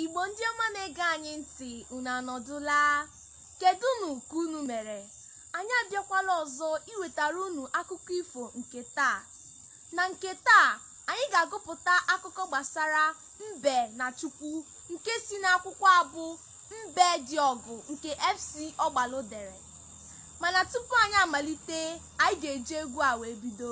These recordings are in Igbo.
igbo ndị ọma na-ege anyị ntị unu anọdụla kedụnụ ka unu mere anyị abịakwala ọzọ iwetara unu akụkọ ifo nke taa na nke taa anyị ga-agụpụta akụkọ gbasara mbe na chukwu nke si n'akwụkwọ a bụ mbe dị ọgụ nke fc ọgbalụ dere mana tupu anyị amalite anyị ga-eji egwu a wee bido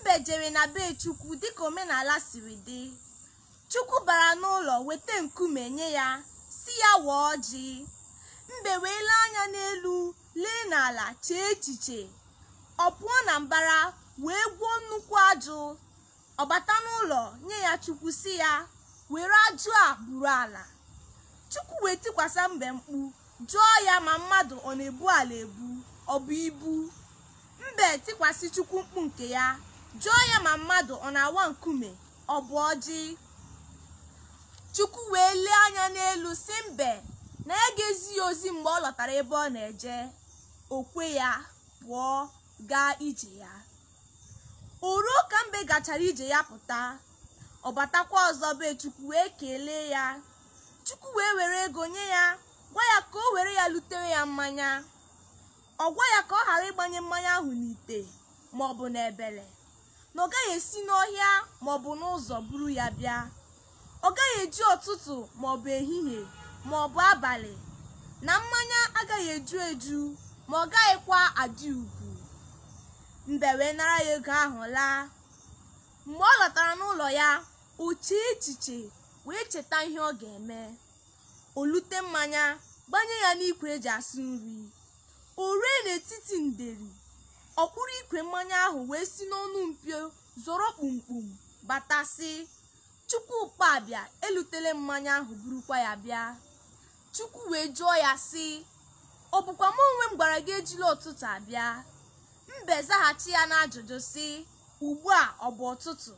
mbe jere na be chukwu dịka omenala siri dị chukwu bara n'ụlọ weta nkume nye ya sị ya waa ọjị mbe wee lee anya n'elu lee n'ala chee echiche ọ pụọ na mbara wee gwọọ nnukwu ajụ ọ bata n'ụlọ nye ya chukwu sị ya were ajụ a buru ala chukwu wee tikwasa mbe mkpu jụọ ya ma mmadụ ọ na-ebu ala ebu ọ bụ ibu mbe tikwasị chukwu mkpu nke ya jụọ ya ma mmadụ ọ na-awa nkume ọ bụ ọjị chukwu wee lee anya n'elu sị mbe na ya ga-ezi ya ozi mgbe ọ lọtara ebe ọ na-eje o kwe ya pụọ gaa ije ya o ruo ka mbe gachara ije ya pụta ọ batakwa ọzọ be chukwu wee kelee ya chukwu wee were ego nye ya gwa ya ka o were ya lutere ya mmanya ọ gwa ya ka ọ ghara ịgbanye mmanya ahụ n'ite ma ọ bụ n'ebele na ọ gaghị esi n'ọhịa ma ọ bụ n'ụzọ buru ya bịa ọ gaghị eji ụtụtụ ma ọ bụ ehihie ma ọ bụ abalị na mmanya agaghị eju eju ma ọ gaghịkwa adị ugwu mbe wee nara ya ego ahụ laa mgbe ọ lọtara n'ụlọ ya o chee echiche wee cheta ihe ọ ga-eme o lute mmanya gbanye ya n'ikwe e ji asụ nri o rue n'etiti nderi ọ kpụrụ ikwe mmanya ahụ wee si n'ọnụ mpio zọrọ kpumkpum bata sị chukwu ụkpabịa elutela m mmanya ahụ burukwa ya bịa chukwu wee jụọ ya sị ọ bụkwa m onwe m gwara gị ejila ụtụtụ abịa mbe zaghachi ya n'ajụjụ sị ugbu a ọ bụ ụtụtụ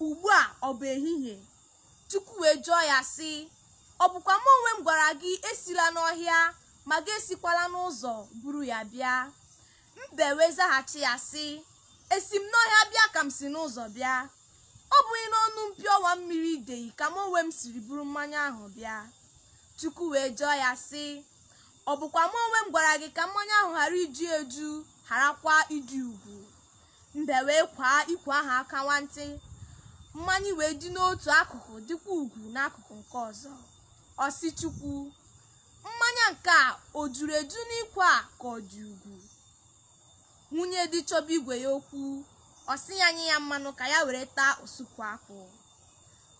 ugbu a ọ bụ ehihie Chukwu wee jụọ ya sị ọ bụkwa m onwe m gwara gị esila n'ọhịa ma gị esikwala n'ụzọ buru ya bịa mbe wee zaghachi ya sị esi m n'ọhịa bịa ka m si n'ụzọ bịa ọ bụghị n'ọnụ mpio ọwa mmiri ideyi ka m onwe m siri buru mmanya ahụ bịa Chukwu wee jụọ ya sị ọ bụkwa m onwe m gwara gị ka mmanya ahụ ghara iju eju gharakwa ịdị ugwu mbe wee kwaa ikwe ahụ aka nwantị mmanya wee dị n'otu akụkụ dịkwa ugwu n'akụkụ nke ọzọ ọ sị chukwu mmanya nke a o juru eju n'ikwe a ka ọ dị ugwu nwunye di chọba igwe ya okwu ọ sị ya nye ya mmanụ ka ya were taa osukwu akwụ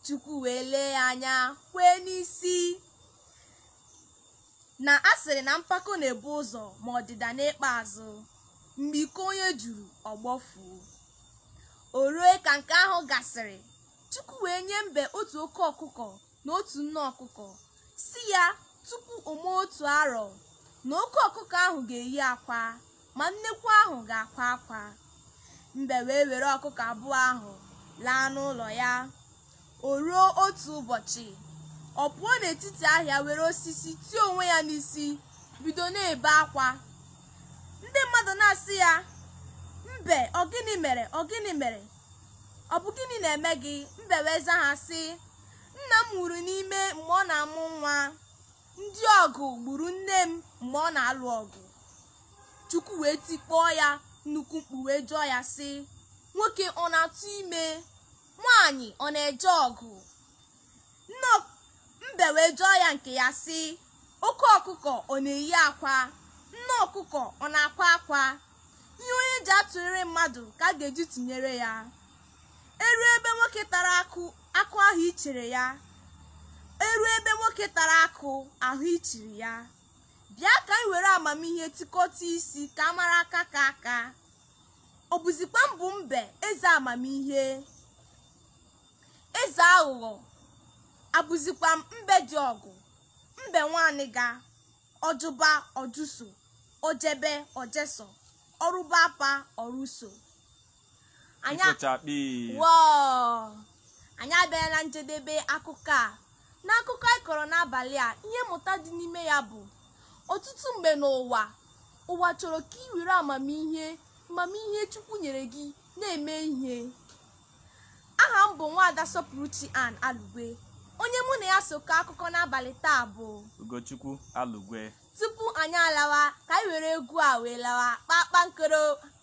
chukwu wee lee ya anya kwee n'isi na a sịrị na mpako na-ebu ụzọ ma ọdịda na-ekpe azụ mgbe iko onye juru ọ gbọfuo o rue ka nke ahụ gasịrị chukwu wee nye mbe otu oke ọkụkọ na otu nne ọkụkọ sị ya tupu o mee otu arọ na oke ọkụkọ ahụ ga-eyi akwa ma nnekwu ahụ ga-akwa akwa mbe wee were ọkụkọ abụọ ahụ laa n'ụlọ ya o ruo otu ụbọchị ọ pụọ n'etiti ahịa were osisi tie onwe ya n'isi bido na-ebe akwa ndị mmadụ na-asị ya mbe ọ gịnị mere ọ gịnị mere ọ bụ gịnị na-eme gị mbe wee zaa ha sị nna m nwụrụ n'ime mgbe ọ na-amụ nwa ndị ọgụ gburu nne m mgbe ọ na-alụ ọgụ chukwu wee tikpọọ ya nnukwu mkpu wee jụọ ya sị nwoke ọ na-atụ ime nwaanyị ọ na-eje ọgụ mbe wee jụọ ya nke ya sị oke ọkụkọ ọ na-eyi akwa nne ọkụkọ ọ na-akwa akwa ihe onye ji atụrịrị mmadụ ka a ga-eji tụnyere ya e rue ebe nwoke tara akụ a hụ ichere ya e rue ebe nwoke tara akụ a hụ ichiri ya bịa ka anyị were amamihe tikọta isi ka a mara aka ka aka ọ bụzikwa m bụ mbe eze amamihe eze aghụghọ abụzikwa m mbe di ọgụ mbe nwa anịga ọjụba ọjụso ojebe ojeso ọrụba apa ọrụso anyị a- Ifochakpi. Wọọ! anyị abịala na njedebe akụkọ a n'akụkọ anyị kọrọ n'abalị a ihe mmụta dị n'ime ya bụ ọtụtụ mgbe n'ụwa ụwa chọrọ ka i were amamihe amamihe chukwu nyere gị na-eme ihe aha m bụ nwaada sọpụrụchi ann alugwe onye mụ na ya so kọọ akụkọ n'abalị taa bụ ugochukwu alugwe tupu anyị alawa ka anyị were egwu a wee lawa kpakpankoro